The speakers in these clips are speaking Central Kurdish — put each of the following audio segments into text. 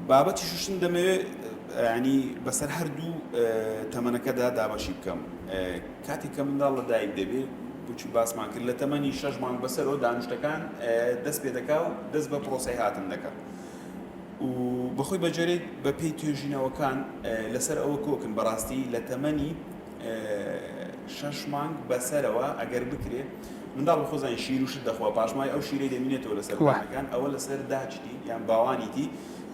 بابەتی شوشتن دەمەوێت یانی بەسەر هەردوو تەمەنەکەدا دابەشی بکەم کاتێک کە منداڵ لە دایک دەبێت بچی باسمان کرد لە تەمەنی شەش مانگ بەسەرەوە دانیشتەکان دەست پێ دەکا و دەست بە پرۆسی هاتن دەکات و بەخۆی بەجێرێت بە پێی توێژینەوەکان لەسەر ئەوە کۆکن بەڕاستی لە تەمەنی شەش مانگ بەسەرەوە ئەگەر بکرێ منداڵ بە خۆزانی شیر و شت دەخوا پاشماوەی ئەو شیرەی دەمینێتەوە لە سەر بانەکان ئەوە لە سەر داچتی یان باوانیتی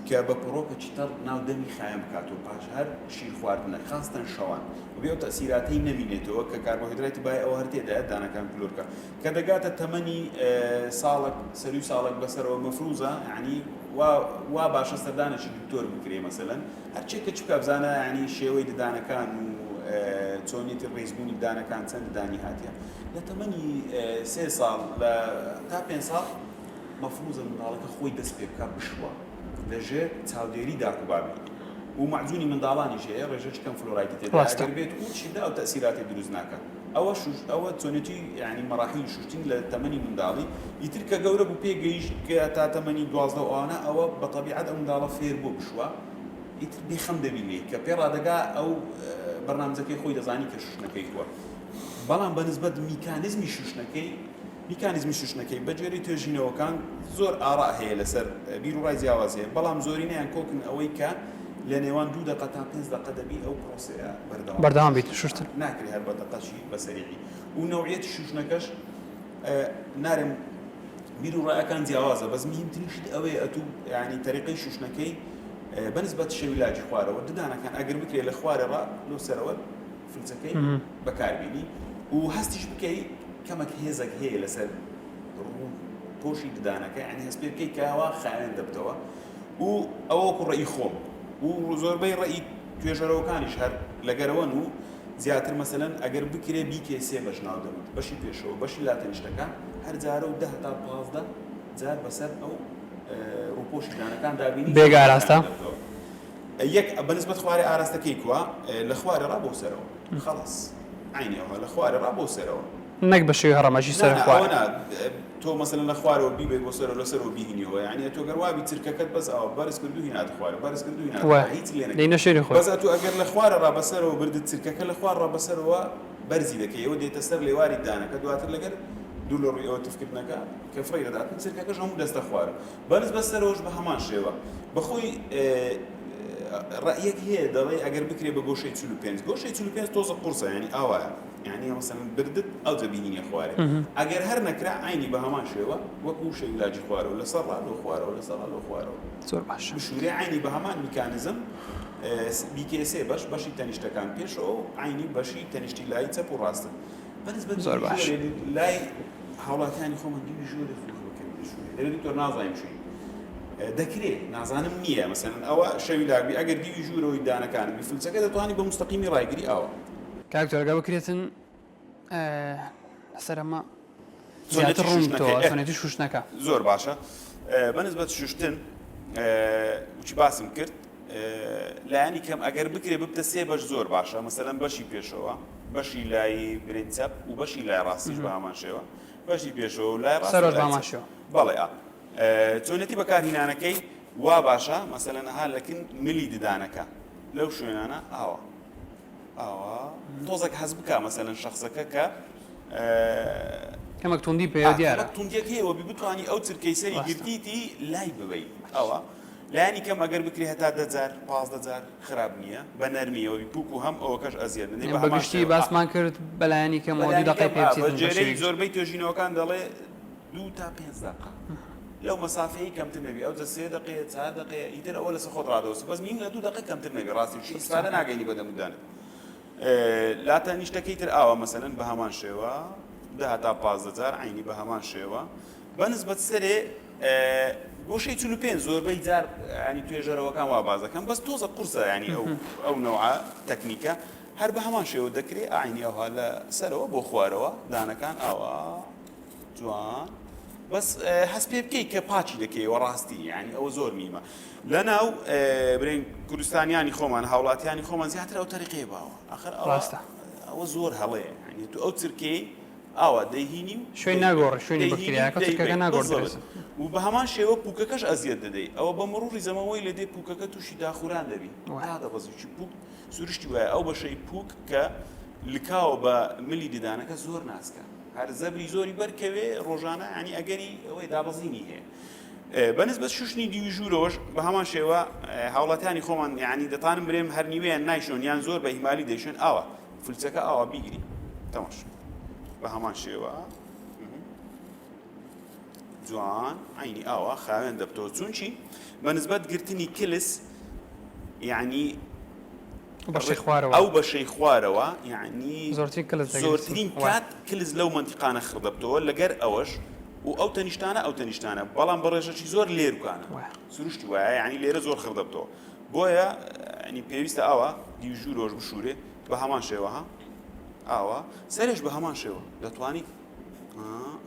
کە بە پەڕۆکەکی تەڕ ناو دەمی خایەن بکاتەوە پاش هەر شیر خواردنەک خاستەن شەوان و بێ ئەو تەئسیراتەی نەمینێتەوە کە کاربۆهیدرایتی بای ئەوە هەر تێدایە دانەکان کلۆرکە کە دەگاتە تەمەنی ساڵەک سەروی ساڵەک بەسەرەوە مەفروزە یانی وا وا باشە سەردانێکی دکتۆر بکرێ مەسەلەن هەرچی کچ بکە بزانە یانی شێوەی ددانەکان و چۆنیەتی ڕیزبوونی ددانەکان چەند ددانی هاتیە لە تەمەنی سێ ساڵ لە تا پێنج ساڵ مەفروزە منداڵەکە خۆی دەست پێ بکە بشوە لە ژێر چاودێری داک و بابی و مەعجونی منداڵانیش هەیە ڕێژەکی کەم فلۆرایدی تێدایە ئەگەر بێت ئوو شیدە ئەو تەئسیراتی دروست ناکا. ئەوەشوش ئەوە چۆنێتی یانی مەڕاحیلی شوشتنی لە تەمەنی منداڵی ئیتر کە گەورە بوو پێ گەیشت کە تا تەمەنی دوازدە و ئەوانە ئەوە بە تەبیعەت ئەو منداڵە فێر بووە بشوا ئیتر بێ خەم دەبینێی کە پێ ڕادەگا ئەو بەرنامجەکەی خۆی دەزانی کە شوشتنەکەی هووە بەڵام بە نسبەت میکانیزمی شوشتنەکەی میکانیزمی شوشتنەکەی بە گوێرەی توێژینەوەکان زۆر ئاڕا هەیە لەسەر بیروڕای جیاواز هەیە بەڵام زۆرینەیان کۆکن ئەوەی کە لە نێوان دوو دەقە تا پێنج دەقە دەبی ئەو بەردەوام بیت شوشتر. توێژەرەوەکانیش هەر لەگەرەوەن و زیاتر مەسەلەن ئەگەر بکرێ بیکەی سێ بەش ناو دەبت بەشی پێشەوە بەشی لاتەنیشتەکە هەر جارە و دە هەتا پازدە جار بەسەر ئەو ڕوپۆشی دانەکان دابینی بێگ ئاراستە یەک بەنسبەت خوارێ ئاراستەکەی کوا لە خوارێ ڕا بۆ سەرەوە خەڵص عینەوە لە خوارێ ڕا بۆ سەرەوە نەک بە شێوی هەڕەمەکی سەر خوارێ تۆ مەسەلەن لە خوارەوە بیبەی بۆ سەرەوە لە سەرەوە بیهینیەوە یانی ئەتو گەر وابی چرکەکەت بەس ئاوا بەرز کردو هیناتە خوارەوە بەرز کردو هیناتە خوارە هیچ لێ نەکەی بەس ئەتو ئەگەر لە خوارە ڕا بە سەرەوە بردت چرکەکە لە خوار ڕا بە سەرەوە بەرزی دەکەی ئەوە دێتە سەر لێواری دانەکە دواتر لەگەر دور لە ڕوی ئەوە تف کردنەکە کە فڕێی دەدات و چرکەکەش هەمو دەستە خوارە بەرز بە سەرەوەش بە هەمان شێوە بە خۆی ڕەئیەک هەیە دەڵێ ئەگەر بکرێ بە گۆشەی چل و پێنج گۆشەی چل و پێنج تۆزە قورسە یانی ئاوایە یەعنی ڕەسەنت بردت ئەوجە بینینێ خوارێ ئەگەر هەر نەکرا عەینی بە هەمان شێوە وەک ووشەی ولاجی خوارەوە لەسەر ڕا لۆ خوارەوە لەسەر ڕا لۆ خوارەوە زۆر باشە بشورێ عەینی بە هەمان میکانزم بیکەیە سێ بەش بەشی تەنیشتەکان پێشەوە و عەینی بەشی تەنیشتی لای چەپ و ڕاستت بە نسبەت زۆر باش لای هاوڵاتیانی خۆمان دووی ژۆرێ خوخ بکەین بشورێ دەبێت دکتۆر نازانین چی دەکرێ نازانم نییە مەسەن ئەوە شەوی لاگوی ئەگەر دیوی ژوورەوەی دانەکانم بیفلچەکە دەتوانانی بە مستەقیمی ڕایگری ئاوە کاک جۆرگا بکرێتن سەر ئەمە زۆرەتی ڕوونەتی شوشتنەکە زۆر باشە بەنسبەت شوشتن وچی باسم کرد لایانی کەم ئەگەر بکرێ ببتە سێ بەش زۆر باشە مەسەلەن بەشی پێشەوە بەشی لای برین چەپ و بەشی لای ڕاستیش بە هەمان شێوە بەشی پێشەوە لای ڕاستەرۆژ باماشەوە بەڵێ چۆنێتی بەکارهینانەکەی وا باشە مەسەلەنەها لەکن ملی ددانەکە لەو شوێنانە ئاوە تۆزەک حەز بکا مەسەلەن شەخسەکە کە. کەمەک توندی پێیە دیارە. کەمەک توندیەک هەیە وەبی بتوانی ئەو چرکەی سەری گرتیتی لای ببەی ئەوە لانی کەم ئەگەر بکری هەتا دە جار پازدە جار خراپ نییە بە نەرمی ئەوەبی پوک و هەم ئەوە کەش ئەزیەت نەی بە هەمان شێوە. بەگشتی باسمان کرد بەلایەنی کەمەوە دوو دەقەی پێ بچیت بەشێوەیەکی. زۆربەی توێژینەوەکان دەڵێ. دوو تا پێنج دەقە لەو مەسافەیەی کەمتر نەبی ئەوجە سێ دەقەیە چار دەقەیە ئیتر ئەوە لەسەر خۆت ڕادەوەستە بەس نیو لە دوو دەقە کەمتر نەبی ڕاستی بشی ئیسفادە ناگەینی بە دەمودانت لا تەنیشتەکەی تر ئاوا مەسەلەن بە هەمان شێوە دە هەتا پازدە جار عینی بە هەمان شێوە بە نسبەت سەرێ گۆشەی چل و پێنج زۆربەی جار ینی توێژەرەوەکان وا باز دەکەم بەس تۆزە قورسە ینی ئەو ئەو نەوە تەکنیکە هەر بە هەمان شێوە دەکرێت ئاینی ئەوها لە سەرەوە بۆ خوارەوە دانەکان ئاوا جوان بەس هەست پێ بکەیت کە پاچی دەکەیەوە ڕاستی یعنی ئەوە زۆر میمە لەناو برێن کوردستانیانی خۆمان هاوڵاتیانی خۆمان زیاتر ئەو تەریقەیە باوە ئەخر ڕاستە ئەوە زۆر هەڵەیە ینی تو ئەو چرکەی ئاوا دەهینی و شوێن ناگۆڕ شوێنی بکرێنەکە ناگۆڕ و بە هەمان شێوە پوکەکەش ئەزیەت دەدەیت ئەوە بە مڕوری زەمەوەی لە دێ پوکەکە تووشی داخوران دەبی دەبەزیی پوک سروشتی وایە ئەو بەشەی پوک کە لکاوە بە ملی ددانەکە زۆر ناسکە هەر زەبری زۆری بەر کەوێ ڕۆژانە یانی ئەگەری ئەوەی دابەزینی هەیە بە نسبەت شوشتنی دیوی ژوورەوەش بە هەمان شێوە هاوڵاتیانی خۆمان یانی دەتانم برێم هەر نیوەیان نایشۆن یان زۆر بە ئیمالی دەیشۆن ئاوا فلچەکە ئاوا بیگری تەماش بە هەمان شێوە جوان عینی ئاوا خاوێن دەبتەوە چونچی بە نسبەت گرتنی کلس یعنی بەشەی خوارەوە. ئەو بەشەی خوارەوە یەعنی زۆرترین کلس دەگرێت. زۆرترین کات کلس لەو مەنتیقانە خڕ دەبتەوە لەگەر ئەوەش و ئەو تەنیشتانە ئەو تەنیشتانە بەڵام بە ڕێژەکی زۆر لێروکانە وایە. سروشتی وایە یەعنی لێرە زۆر خڕ دەبتەوە بۆیە یەعنی پێویستە ئاوا دیو ژوورەوەش بشورێ بە هەمان شێوە ها ئاوا سەرێش بە هەمان شێوە دەتوانیت ها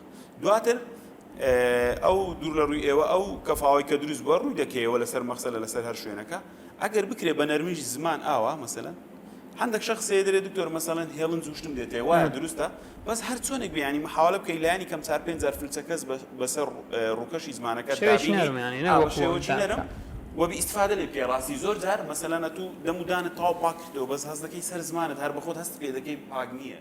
دواتر ئەو دوور لە ڕووی ئێوە ئەو کەفاوەی کە دروست بووە ڕووی دەکەیەوە لەسەر مەخسەلە لەسەر هەر شوێنەکە. ئەگەر بکرێ بە نەرمیش زمان ئاوا مەسەلەن هەندەک شەخس هەیە دەرێ دکتۆر مەسەلەن هێڵن جوشتم دێتێ وایە دروستە بەس هەر چۆنێک بێ یانی محاوەلە بکەی لانی کەم چار پێنج جار فلچە کەس بە بەسەر ڕووکەشی زمانەکەت شەوێکی دابینی نەرم یانی نەک ئاوا وەکوو ئەوەندە شێوەکی نەرم تاقە. وە بی ئیستفادە لێ بکەی ڕاستی زۆر جار مەسەلەن ئەتوو دەم و دانت تەواو پاک کردەوە بەس هەست دەکەی سەر زمانت هەر بە خۆت هەست پێ دەکەی پاک نییە